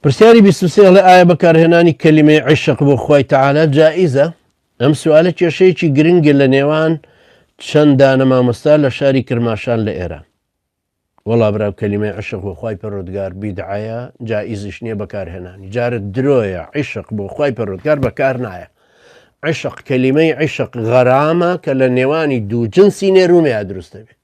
پرسیاری بیست و سێ ئەڵێ ئایا بەکارهێنانی کەلیمەی عیشق بۆ خوای تەعالا جائیزە؟ ئەم سوالە کێشەیەکی گرنگە لە نێوان چەند دانە مامۆستا لە شاری کرماشان لە ئێران. وەڵا برا کەلیمەی عیشق بۆ خوای پەرۆدگار بیدعەیە جائیزیش نییە بەکارهێنانی جارت درۆیە عیشق بۆ خوای پەرۆدگار بەکار نایە. عیشق کەلیمەی عیشق غەرامە کە لە نێوانی دوو جنسی نێرومێ دروستە بێت.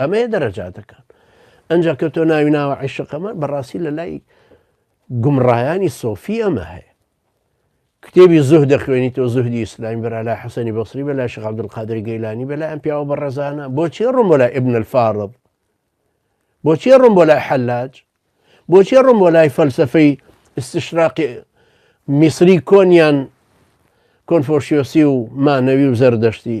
ئەمەیە دەرەجاتەکان ئەنجا کە تۆ ناوی ناوە عیشقەمە بەڕاستی لە لای گومڕایانی سۆفی ئەمە هەیە کتێبی زوه دەخوێنی تۆ زوهدی ئیسلامی بەرا لای حسەنی بەسری بە لای شغابدل قادری گەیلانی بە لای ئەم پیاوە بە ڕێزانە بۆچی ڕم بۆ لای ئبن الفاڕب بۆچی ڕم بۆ لای حەلاج بۆچی ڕم بۆ لای فەلسفەی استشراقی میسری کۆنیان کۆنفۆشیۆسی و مانەوی و زەردەشتی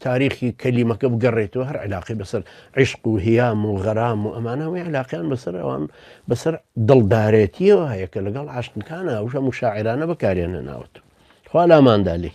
تاریخی کەلیمەکە بگەڕێتەوە هەر عیلاقەی بەسەر عیشق و هیام و غەرام و ئەمانە هەمووی عیلاقەیان بەسەر ئەوان بەسەر دڵدارێتیەوە هەیە کە لەگەڵ عاشقەکانە ئەو هەموو شاعرانە بەکاریان هێناوەتەوە خوا لاماندا لێی